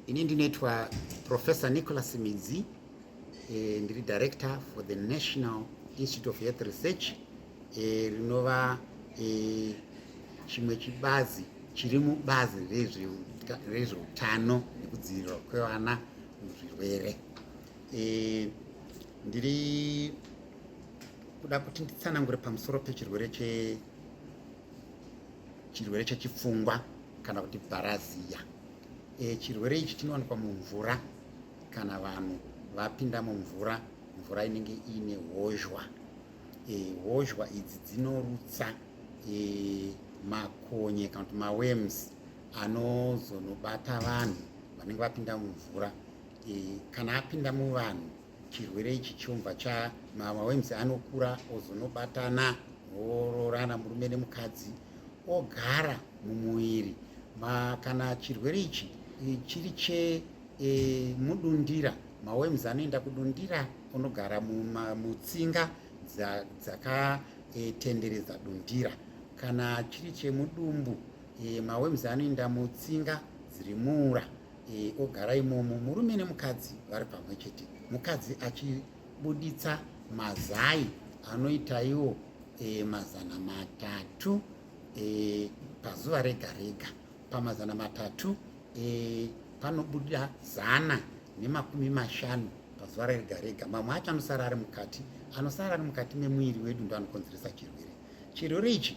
Ini ndinoitwa Professor Nicholas Midzi eh, ndiri director for the National Institute of Health Research eh, rinova eh, chimwe chibazi chiri mubazi rezveutano nekudzivirirwa kwevana muzvirwere eh, ndiri kuda kuti nditsanangure pamusoro pechirwere che chirwere chechipfungwa kana kuti bharaziya e, chirwere ichi chinowanikwa mumvura kana vanhu vapinda mumvura mvura inenge iine hozhwa e, hozhwa idzi dzinorutsa e, makonye kana kuti mawems anozonobata vanhu vanenge vapinda mumvura e, kana apinda muvanhu chirwere ichi chiumbwa cha mamawems anokura ozonobatana ororana murume nemukadzi ogara mumuviri kana chirwere ichi e, chiri chemudundira e, mawems anoenda kudundira onogara mutsinga dzakatenderedza e, dundira kana chiri chemudumbu e, mawems anoenda mutsinga dziri muura e, ogara imomo murume nemukadzi vari pamwe chete mukadzi achibuditsa mazai anoita iwo e, mazana matatu e, pazuva rega rega pamazana matatu e, panobuda zana nemakumi mashanu pazuva rega rega mamwe acho anosara ari mukati anosara ari mukati memuviri wedu ndo anokonzeresa chirwere chirwere ichi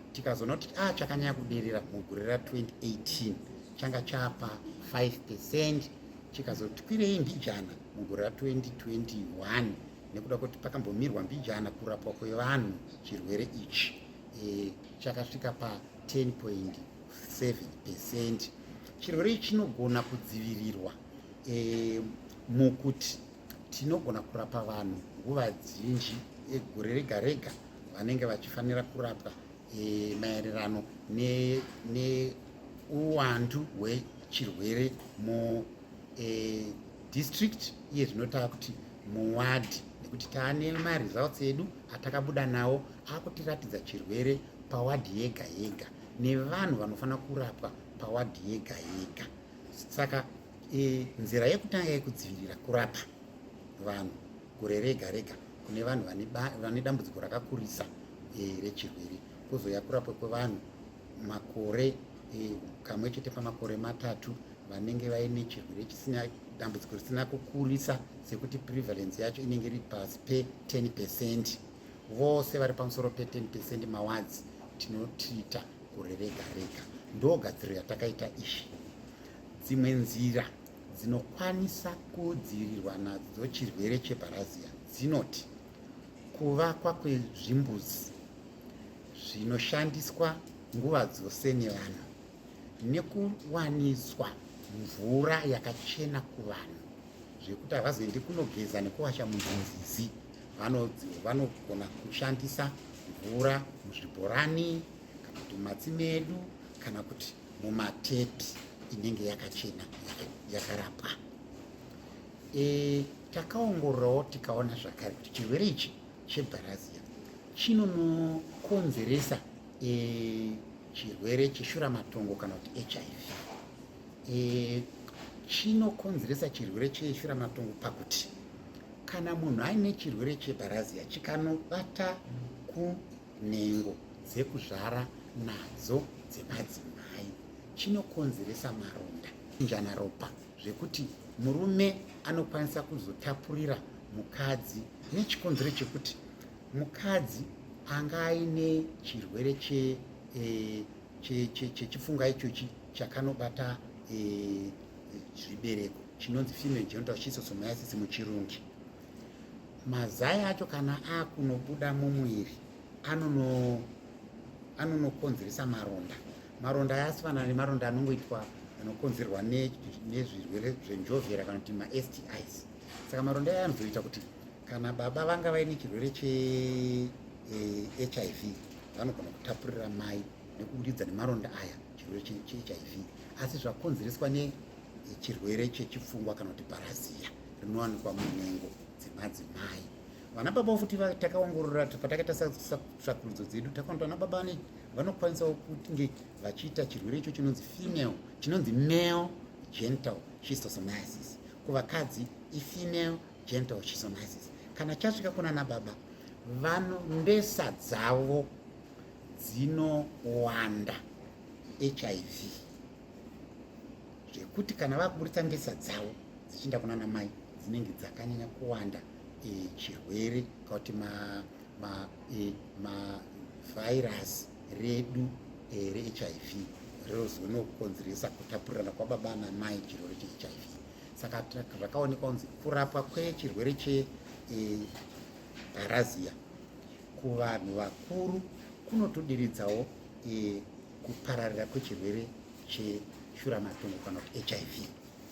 tikazoona kuti a ah, chakanyanya kuderera mugore ra 2018 changa chapa 5 percent chikazotikwirei mbijana mugore ra 2021 nekuda kwekuti pakambomirwa mbijana kurapwa kwevanhu chirwere ichi e, chakasvika pa 10.7 percent chirwere ichi chinogona kudzivirirwa e, mukuti Tinogona kurapa vanhu nguva dzinji egore rega rega vanenge vachifanira kurapwa e, maererano neuwandu ne hwechirwere mu e, district iye zvinotava kuti muwadhi nekuti taane maresults edu atakabuda nawo akutiratidza chirwere pawadhi yega yega nevanhu vanofanira kurapwa pawadhi yega yega saka E, nzira yekutanga yekudzivirira kurapa vanhu gore rega rega kune vanhu vane dambudziko rakakurisa e, rechirwere kuzouya kurapwa kwevanhu makore e, kamwe chete pamakore matatu vanenge vaine chirwere chisina dambudziko risina kukurisa sekuti prevalence yacho inenge iri pasi pe10 percent vose vari pamusoro pe10 percent mawadzi tinotiita gore rega rega ndogadziro yatakaita izvi Dzimwe nzira dzinokwanisa kudzivirirwa nadzo chirwere cheparazia dzinoti kuvakwa kwezvimbuzi zvinoshandiswa nguva dzose nevanhu nekuwaniswa mvura yakachena kuvanhu zvekuti havazoendi kunogeza nekuwasha munzinzizi vanogona kushandisa mvura muzvibhorani kana kuti mumatsime edu kana kuti mumatepi inenge yakachena yakarapwa e, takaongororawo tikaona zvakare kuti chirwere ichi chebharazia chinonokonzeresa e, chirwere cheshuramatongo kana kuti hiv e, chinokonzeresa chirwere cheshuramatongo pakuti kana munhu aine chirwere chebharazia chikanobata kunhengo dzekuzvara nadzo dzemadzimai chinokonzeresa maronda njana ropa zvekuti murume anokwanisa kuzotapurira mukadzi nechikonzero chekuti mukadzi anga aine chirwere che eh, chechifunga che, che, ichochi chakanobata eh, zvibereko chinonzi female genital schistosomiasis muchirungi mazai acho kana akunobuda mumuviri anono anonokonzeresa maronda maronda aya asifanana nemaronda anongoitwa anokonzerwa nezvirwere zvenjovhera kana kuti mastis saka maronda aya anozoita kuti kana baba vanga vaine chirwere chehiv eh, vanogona kutapurira mai nekuburidza nemaronda aya chirwere chehiv asi zvakonzereswa nechirwere chechipfungwa kana kuti bharaziya rinowanikwa munhengo dzemadzimai vana baba futi takaongorora patakaita satsvakurudzo dzedu takaona vana baba ne vanokwanisawo kunge vachiita chirwere icho chinonzi female chinonzi male gental schistosomiasis kuvakadzi ifemale gental schistomiasis kana chasvika kuna na baba vano mbesa dzavo dzinowanda hiv zvekuti kana vakuburitsa mbesa dzavo dzichiinda kuna namai dzinenge dzakanyanya kuwanda e, chirwere ka kuti mavhairasi e, redu e, rehiv rinozonokonzeresa kutapurirana kwababa namai chirwere chehiv saka zvakaonekwa kunzi kurapwa kwechirwere cheparazia e, kuvanhu vakuru kunotoderedzawo e, kupararira kwechirwere cheshuramatongo kana kuti hiv